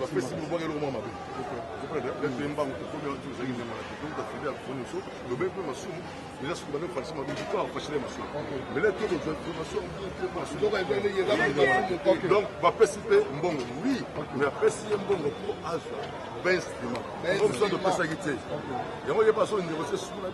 bapesi lobwaka eloko mwa mabe lete mbango tokomi wana tozali nyama na kito tafide ya kofoni nyonso lobei mpe masumu eza soki bande fashi mabe kito afashile masumu mais lete kozwa information donc bapesi mpe mbongo oui mais apesi ye mbongo mpo azwa bainstrument oyo mosusu topesaki te yango ye mpe azolindekote suna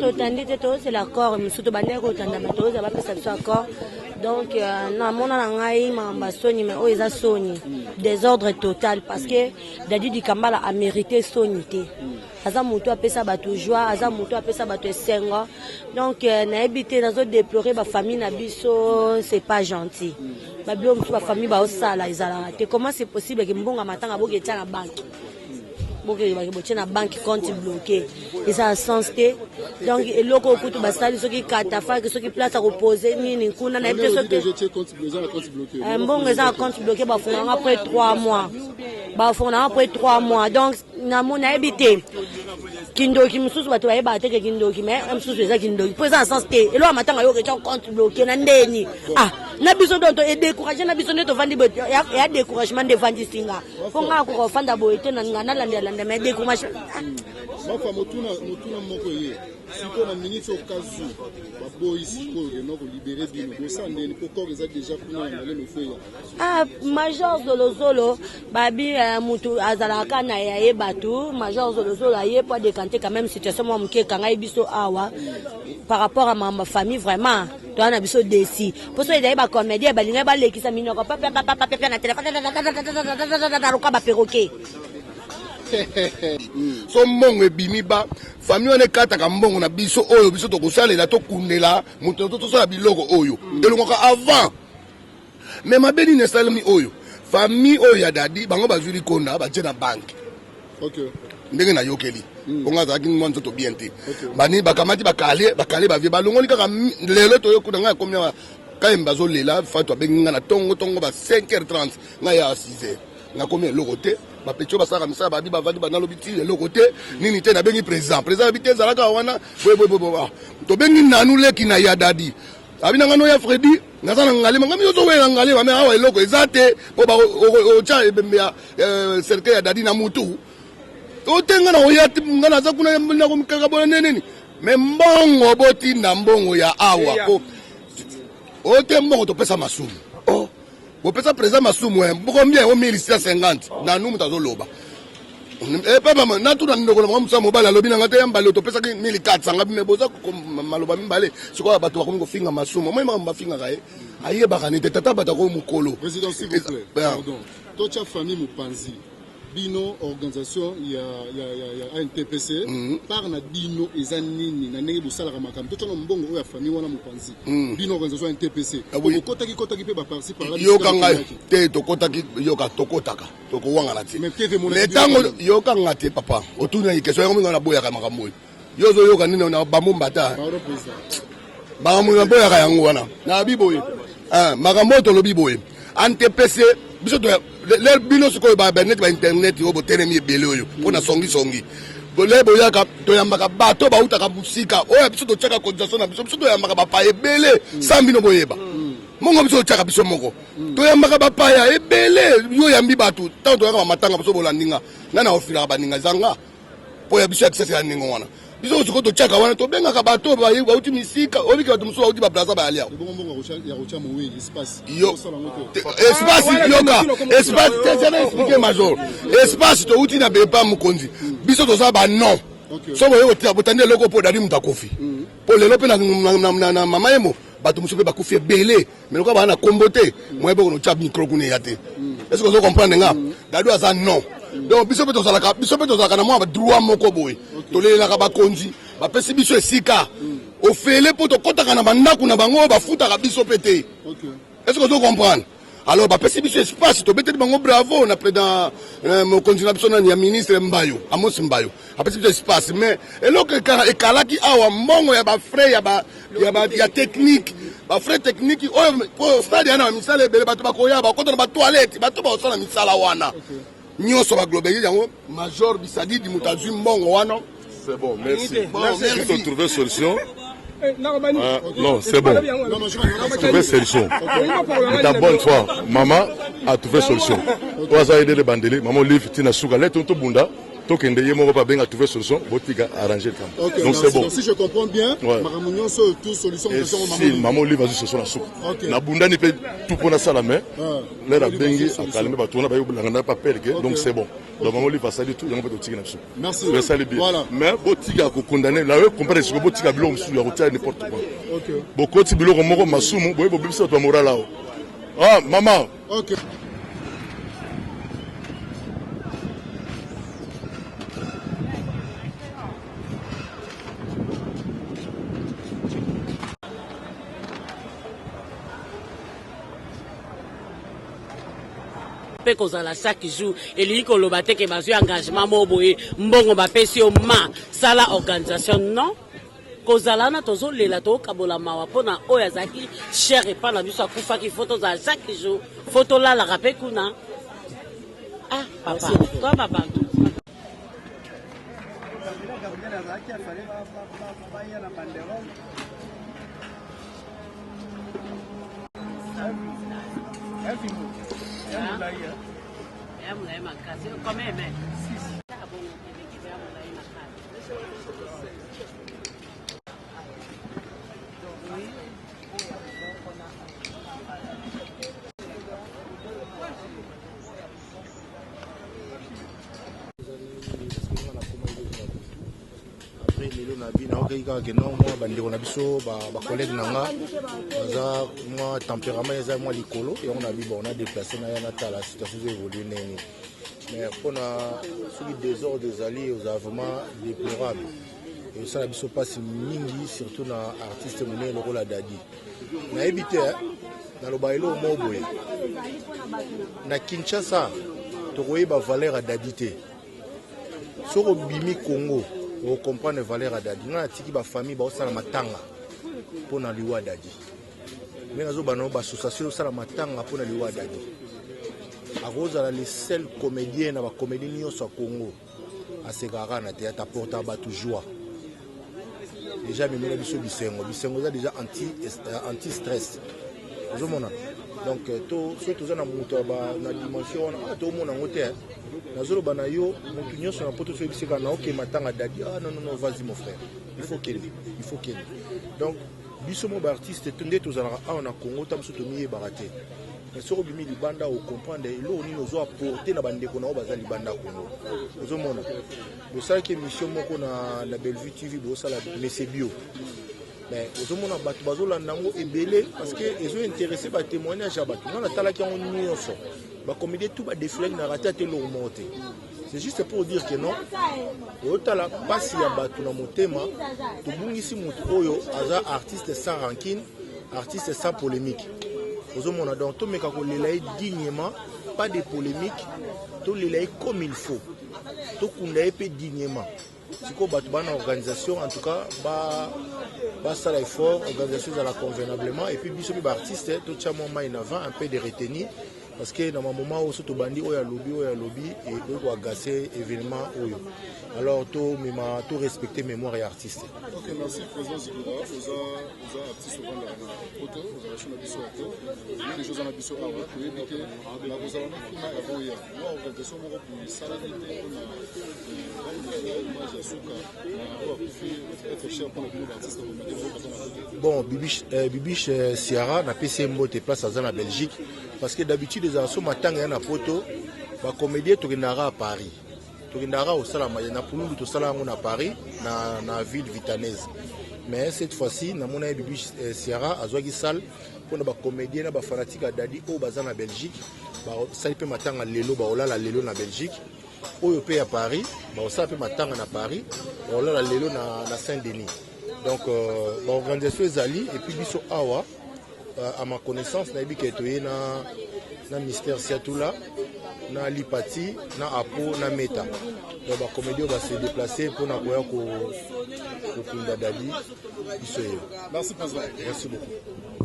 totandi te tozela accord mosusu tobandaki kotanda bato oyo bapesa biso accord donc euh, na mona na ngai makambo ya soni mai oyo eza soni desordre total parce que dadi dikambala amerite soni te aza moto apesa bato joie aza moto apesa bato esengo donc euh, nayebi te nazo deplore bafamille na biso c'est pas gentil babilo mosusu bafamille baosala ezalaka te comment c'est possible ke mbongo ya matanga boke etya na banke bokeyebaki botye na banque compte bloqué eza na sens te donc eloko oyo kutu basali soki katafaki soki place ya kopose nini kuna nayebi te soki eh, mbongo eza na compte bloqué bafungaka apres 3 mois bafungaka apres 3 mois donc na mo nayebi te kindoki mosusu bato bayebaka teke kindoki me mosusu eza kindoki mpo eza na sens te eloko matanga yo oketya compte bloke na ndeni ah na biso donto edecourage na biso nde tovandi ya decouragement nde evandisi nga mpo nga akoka ofanda boye te nga nalandelanda me decouragement ah. mafa motuna motuna moko ye sikoyo na miniti okazu baboyi sikoyo kena kolibere bino bosandeni mpo kor eza deja kuna na ndalema efo eya Ah, major zolozolo babi eh, mutu azalaka na ya ye bato major zolozolo aye mpo adekante quand même situation mwa moke ekangai biso awa par rapport à ma famille vraiment toza na biso desi mpo soki ezali bacomédien balingai balekisa minoko papapapapapia na telefone loka baperoke so mbongo ebimi ba famille wana ekataka mbongo na biso oyo biso tokosalela tokundela moto tosala biloko oyo elongaka avant Mais mabe nini esalemi oyo famille oyo ya dadi bango bazwi likonda batie na banke okay. ndenge nayokeli mm. bongo azalaki mwa nzoto bien te okay. bani bakamati bakale bakale bavie balongoli kaka lelo toyokuna ngai akomi awa kayemba azolela fatu abengi ngai na tongo tongo ba 5 h 30 ngai ya 6 h nakomi eloko te bapetio basalaka misala babi bavandi banalobi ti eloko te nini te nabengi président président abi te ezalaka wana boyeboyeboye ah, tobengi nanu leki na yadadi abi na nga no ya fredi naza na ngale mangami yo ozowelela na ngale bame awa eloko eza te mpo otya ebembe ya eh, cercueil ya dadi na mutu ote nga na oya nga naza kuna nakomikakabona neneni me mbongo botinda mbongo ya awa mpo ote mbongo topesa masumu bopesa president masumu eh, combien o 1650 nanu moto azoloba eh, epe mama natuna ndeko na bango mosa mobali alobi na ngai te ya mbale topesaki 1400 ngabi me boza maloba mibale sikoyo bato bakomi kofinga masumu omoi makambo bafingaka ye ayebaka nete tata bato akoyo mokolo totya famille mopanzi Bino organisation ya ya ya ya ANTPC mm. par na bino eza nini na ndenge bosalaka makambo to tshana mbongo oyo ya famille wana mopanzi mm. bino organisation ya NTPC ah, oui. bokotaki kotaki pe ba parti par là yoka ngai te tokotaki yoka tokotaka tokowangana te mais tango yoka ngai te papa otuni na question yango mingi na boyaka makambo oyo Yo ozo yoka nini na bambo mbata? Makambo na boyaka yango wana. Na biboye. Ah, makambo tolobi boye. Antepese biso to le bino sikoyo ba net ba internet oyo botelemi ebele oyo mpo na songi songi bole boyaka toyambaka bato bautaka mosika oyo biso totyaka cotisation na biso biso toyambaka bapaya ebele sa bino boyeba mongo biso totyaka biso moko toyambaka bapaya ebele yo yambi bato ntango toyaka bamatanga biso bolandinga nani akofilaka baninga ezanga mpo ya biso ya kisasa ya ndenge wana biso mosusu ko totyaka wana tobengaka bato oyo bauti misika oyebiki bato mosusu bauti baplaza bayali awa espaceesplike major espace touti na bepa mokonzi biso toza banon soki oye botandi eloko mpo odali moto akufi mpo lelo mpe na mama yemo bato mosusu mpe bakufi ebele mais lokola baa na kombo te moye boko notya micro kuna eya te est ce que ozo comprendre nga dadu aza non donc biso mpe tozalaka biso mpe tozalaka na mwa badroit moko boye tolelelaka bakonzi bapesi biso esika ofele mpo tokɔtaka na bandako na bango bafutaka biso mpe te est ce que ozo comprendre alors bapesi biso espace tobeteli bango bravo na président euh, mokonzi na biso nani ya ministre mbayo amos mbayo apesi biso espace mais eloko ekalaki awa mbongo ya bafrais ya ba ya ba ya technique ba frais technique oyo po stade yana misala ebele bato bakoya bakota na ba toilette bato bakosala misala wana nyonso ba globaliser yango major bisadidi moto azwi mbongo wana c'est bon merci bon, merci faut trouver solution eh, euh, non, c'est bon. Trouver solution. Ta bonne foi, maman a trouvé solution. Oza aider les bandeli, maman livre tina suka, lève tout bunda. tokende ye moko babenga trouve solution botika arranger likambo okay, donc c'est bon si je comprends bien ouais. makambo nyonso oyo tout solution eh, si mama olive azwi solution na suka okay. nabundani mpe tu mpo nasala mais ah. lere abengi akalme bato wana bayobolanga na papele ke donc c'est bon donc mama olive asali tout yango mpe totiki na biso esali bien mais botika kokondane layo comprendre siko botika biloko mosusu ya kotia n'importe quoi bokoti biloko moko masumu boye bobebisi bato ya moral awa ah mama Okay. mpe kozala chaque jour elingi koloba te ke bazwi engagement moko boye mbongo bapesi yo ma sala organisation non kozala wana tozolela tokokabola mawa mpo na oyo azalaki chere epai na biso akufaki fo tozala chaque jour fo tolalaka mpe kuna ah papa toi babantu Ya mulayi makasi, combien mais? nayoki kaka ke non mwa bandeko na biso bacollègue na nga baza mwa tempérament eza mwa likolo yango na bi bon na déplace na ya natala situation ezo évolue ndenge mais mpo na soki desordre ezali ozala vraiment déplorable esala biso mpasi mingi surtout na artiste monene lokola dadi nayebi te eh, naloba eloko moko boye na kinshasa tokoyeba valeur ya dadi te soki obimi congo okomprendre valeur ya dadi ngai natiki bafamille baosala matanga mpo na liwa dadi ngai nazoba na yo bassociation osala matanga mpo na liwa ya dadi akozala le seul comédien na bacomédie nyonso ya congo asekaka kaka na théâtre aportaka bato joie déjà amemela biso bisengo bisengo eza déjà anti stress ozomona donc euh, soki toza na moto na dimension wana ah, tomona yango te nazoloba na yo moto nyonso na poto soyebiseka na oke matanga dadi ah non non non vas-y mon frère il faut kende il faut kende donc Biso mo ba artiste nde tozalaka awa na Congo ta biso tomiyebaka te mais soki obimi libanda okomprendre eloko nini ozo apporte na bandeko na yo baza libanda Congo ozomona bosalaki émission moko na, na Bellevue TV bosala mese bio mais ozomona bato bazolanda yango ebele parce que ezo interesse ba témoignage ya bato nga natalaki yango nyonso bacomédie tout badefilaki na rate ata eloko moko te C'est juste pour dire que non, oyotala pasi ya batu na motema, tobungisi mutu oyo aza artiste sans rancune, artiste sans polémique. ozomona donc tomeka kolela ye dignement pas de polémique tolela ye comme il faut tokunda ye mpe dignement sikoyo bato bana organisation en tout cas ba basala effort organisation ezala convenablement et puis biso mpe baartiste totya mwa mai na vin un peu de retenir parce que na bamoma oyo so tobandi oyo alobi oyo alobi ekoki koagase événement oyo alors tomema to respecte mémoire ya artiste okay, merci, président Zikura, oza, oza artiste ovandaka na poto ozalation na biso ya to nini ezo oza na biso awa toyebi te nakozala na kuna ya boya Bon, Bibiche, euh, Bibiche euh, Ciara, na PC Mbote, place à la Belgique, parce que d'habitude, les assos m'attendent à la photo, ma comédie, tu à Paris. tokendaka kosala maye na pululu tosala yango na paris na, na ville vitanaise mais cette fois-ci namona ye bibi eh, sierra azwaki salle mpo na bacomédien na bafanatike ya dadi oyo baza na belgique basali mpe matanga lelo bakolala lelo na belgique oyo mpe ya paris bakosala mpe matanga na paris bakolala lelo na, na saint denis donc euh, baorganisation ezali epuis biso awa euh, à ma connaissance nayebi ke toye na, na mister siatula na lipati na apo na meta donc bakomedi oyo base deplace mpona koya kokunda dadi biso ye merci beaucoup